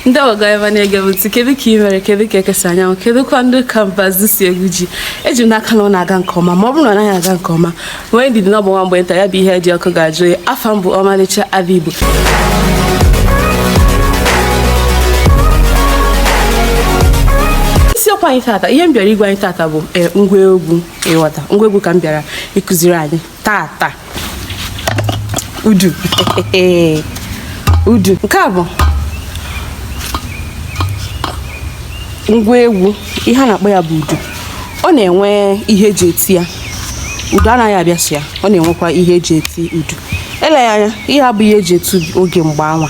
ndị ọga ebe na-ege m ntị kedu ka ị mere kedu ka eke si anya anwụ kedu kwanụ ka mbazụ si egwu ji eji m n'aka na ọ na-aga nke ọma ma ọ bụrụ na ọ naghị aga nke ọma nwee ndidi na ọ bụ nwa mgbe nta ya bụ ihe dị ọkụ ga-ajụ oyi afa m bụ ọmalịcha ada igbo isiokwu anyị tata ihe m bịara ịgwa anyị tata bụ e, ngwa egwu ịghọta ngwa egwu ka m bịara ịkụziri anyị tata udu udu nke a bụ ngwa egwu ihe a na-akpọ ya bụ udu ọ na-enwe ihe eji eti ya udu anaghị abịa sọ ya ọ na-enwekwa ihe eji eti udu eleghị anya ihe a abụghị ihe eji eti oge mgbe anwa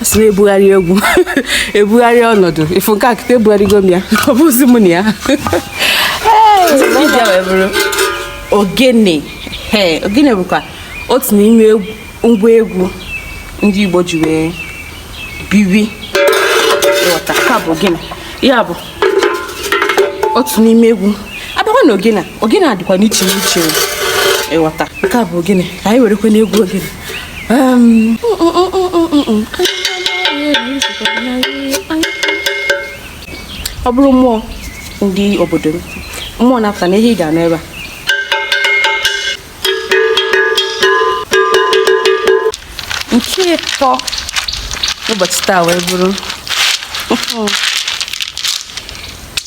a sị na ebugharị egwu ebugharị ọnọdụ ị fụ nke a kịta ebugharịgo m ya ọ bụzi m na ya nke ịbụa wee bụrụ ogene ee ogene bụkwa otu n'ime egwu- ngwa egwu ndị igbo ji wee biri ịghọta nke a bụ ogene ya bụ otu n'ime egwu a bịakwa na ogene ogene adịkwa n'iche n'iche ịghọta nke a bụ ogene ka anyị werekwa n'egwu ogene ọ bụrụ mmụọ ndị obodo m mmụọ na-apụta na ihe ị ga-anụ ebe a nke ịtọ n'ụbọchị taa wee bụrụ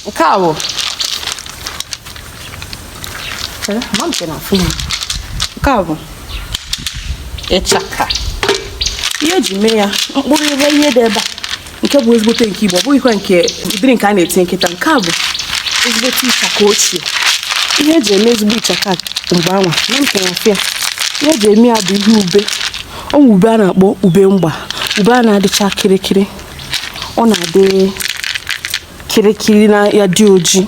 nke a bụ nke a bụ ịchaka ihe eji mee ya mkpụrụ ihe dị ebe a nke bụ ezigbote nke igbo ọ bụghịkwa nke ụdịrị nke a na-etinye kịta nke a bụ ezigbote ịchaka ochie ihe eji eme ezigbo ịchaka mgbe anwa na nke afịa ihe eji eme ya bụ ihe ube anwa ube a na-akpọ ube mgba ube a na-adịcha kịrịkịrị ọ na-adị kịrịkịrị na ya dị oji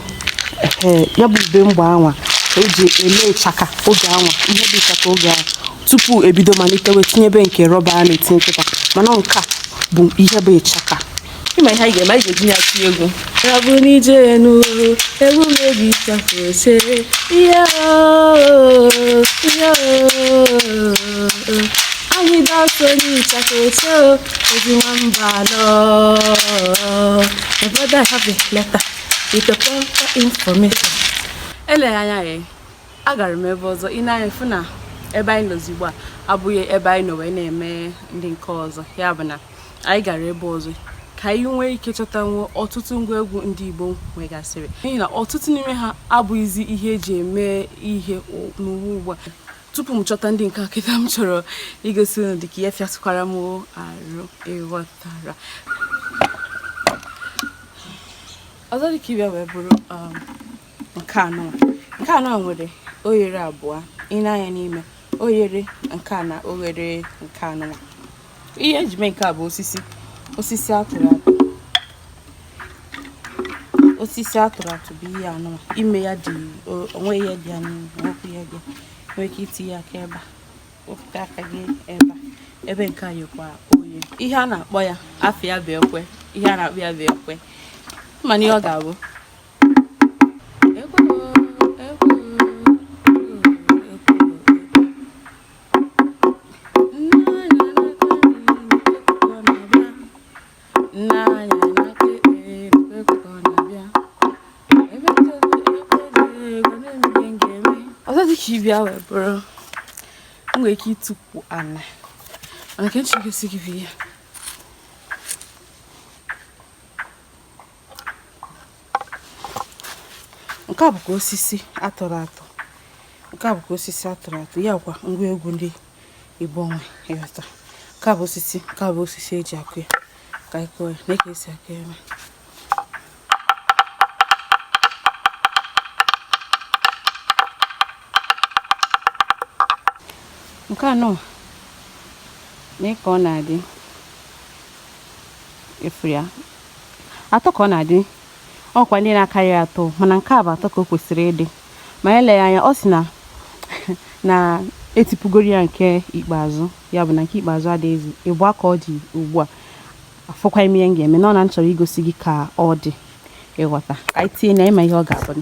ya bụ ube mgba anwa eji eme ịchaka oge anwa ihe dị ịchaka oge ahụ tupu ebido malite wee tinyebe nke rọba a na-etinye kịta mana nke a bụ ihe bụ ịchaka ị ma ihe anyị ga-eme anyị ga-eji ya tie egwu ya bụ n'ije n'uru egwu mebi ịchaka ose ihe ihe ahịda ọsọ onye ịchaka oche o ezi nwamba nọ my brother have a letter with the proper information eleghị anya ya agara m ebe ọzọ ị nee anya fụ na ebe anyị nọzi ugbu a abụghị ebe anyị nọ wee na-eme ndị nke ọzọ ya bụ na anyị gara ebe ọzọ ka anyị nwee ike chọtanwuo ọtụtụ ngwa egwu ndị Igbo nwegasịrị n'ihi na ọtụtụ n'ime ha abụghịzi ihe eji eme ihe n'ụwa ugbu a tupu m chọta ndị nke a kịta m chọrọ igosi unu dịka ihe fịatụkwara m arụ ị ghọtara ọzọ dịka ibe ya wee bụrụ um, nke anụ nke anụ nwere oghere abụọ ị nee anya n'ime oghere nke a na oghere nke anụwa ihe eji mee nke a bụ osisi osisi atụrụ atụ osisi atụrụ atụ bụ ihe anụ ime ya dị o nwe ihe dị ya n'ime nwekwu ihe dị nwee ike itinye aka ebe a wepụta aka gị ebe a ebe nke a yekwa oye ihe a na-akpọ ya afa ya bụ ekwe ihe a na-akpọ ya bụ ekwe mana ihe ọ ga-abụ ibe ya wee bụrụ m nwere ike itukwu ana mana ka m chị gosi gị bụ ihe nke a bụkwa osisi atụrụ atụ nke a bụkwa osisi atụrụ atụ ya kwa ngwa egwu ndị igbo nwe ị ghọta nke a bụ osisi nke a bụ osisi eji akụ ya ka anyị kụọ ya nee ka esi akụ ya nke anụ nee ka ọ na-adị ị fụ ya Atọ ka ọ na-adị. Ọ nwekwa ndị na-akarị atọ, mana nke a bụ atọ ka o kwesịrị ịdị. Ma e lee anya, ọ sị na etipugoro ya nke ikpeazụ, ya bụ na nke ikpeazụ adịghịzi. Ịbụa ka ọ dị ugbu a. Afụkwaghị m ihe m ga-eme, nọ na m chọrọ igosi gị ka ọ dị ị ghọta. Ka anyị tinye na ị ma ihe ọ ga-abụ.